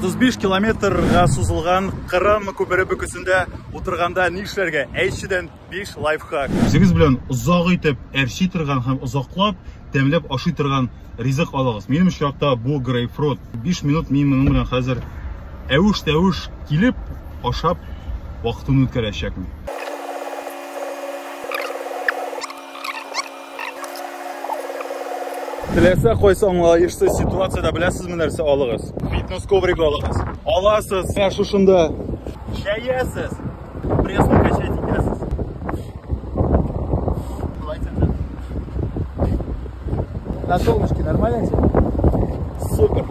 35 километрга сузылган Кырым күпере бөкесендә утырганда ни эшләргә? Әйтчедән 5 лайфхак. Үзегез белән озак итеп әрчи торган һәм озаклап тәмләп ашый торган ризык алыгыз. Минем очракта бу грейпфрут. 5 минут мин моның белән хәзер әвеш-тәвеш килеп ашап вакытын үткәрәчәкмен. Теләсә кайсы аңлаешлы ситуацияда беләсезме нәрсә алыгыз? Фитнес коврик алыгыз. Аласыз, ә шушында чәясез, пресска качать итәсез. На солнышке нормально тебе? Супер.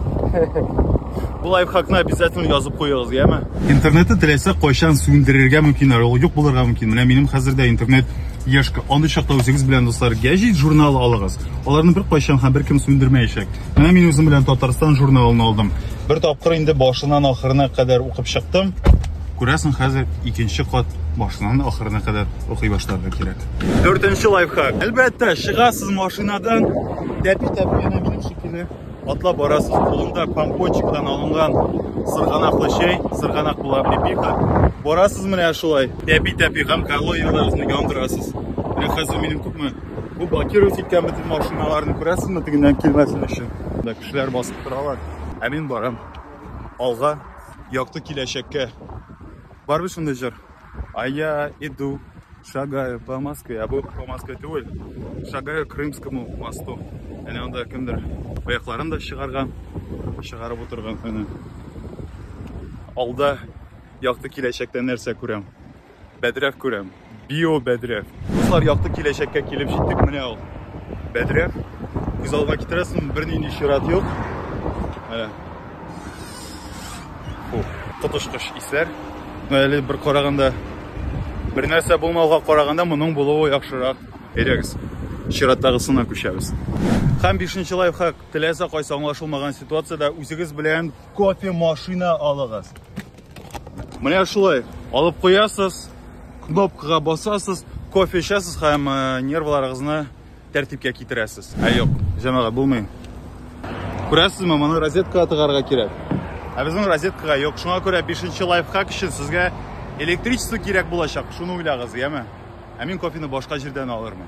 Бу лайфхакны обязательно язып куегыз, яме? Интернетны теләсә кайчан сүндерергә мөмкин, ул юк булырга мөмкин. Менә минем хәзер дә интернет Яшка, андый чакта үзегез белән, дуслар, гәҗит журналы алыгыз. Аларны бер кайчан һәм беркем сүндермәячәк. Менә мин үзем белән Татарстан журналын алдым. Бер тапкыр инде башыннан ахырына кадәр укып чыктым. Күрәсең, хәзер икенче кат башыннан ахырына кадәр укый башларга кирәк. Дүртенче лайфхак. Әлбәттә, чыгасыз машинадан, тәпи-тәпи, әнә минем шикелле. Атлап барасыз, кулында помпончикдан алынган сырганаклы чәй, сырганак була припиха. Барасыз менә шулай, тәпи-тәпи һәм калорияләрегезне яндырасыз. Менә хәзер минем күпме бу блокировать иткән бөтен машиналарны күрәсезме, тегеннән килмәсен өчен. Монда кешеләр басып торалар. Ә мин барам алга, якты киләчәккә. Барбы шундый җыр? А я иду, шагаю по Москве, а был по Москве түгел, шагаю Крымскому мосту. Әне анда кемдер аякларын да чыгарган, чыгарып утырган әне. Алда якты киләчәктә нәрсә күрәм? Бәдрәф күрәм. Био бәдрәф. Дуслар, якты киләчәккә килеп җиттек, менә ул. Бәдрәф. Күз алга китерәсең, бернинди чират юк. Әне. Бу коточкыч исләр. Әле бер караганда бер нәрсә булмауга караганда моның булуы яхшырак. Әйдәгез, чираттагысына күчәбез. Һәм бишенче лайфхак, теләсә кайсы аңлашылмаган ситуациядә үзегез белән кофе машина алыгыз. Менә шулай, алып куясыз, кнопкага басасыз, кофе эчәсез һәм э, нервларыгызны Тәртипкә китерәсез. Ә юк, җәмәгать булмый. Күрәсезме, моны розеткага тыгарга кирәк. Ә безнең розеткага юк. Шуңа күрә 5 лайфхак өчен сезгә электричество кирәк булачак. Шуны уйлагыз, яме. Ә мин кофены башка җирдән алырмын.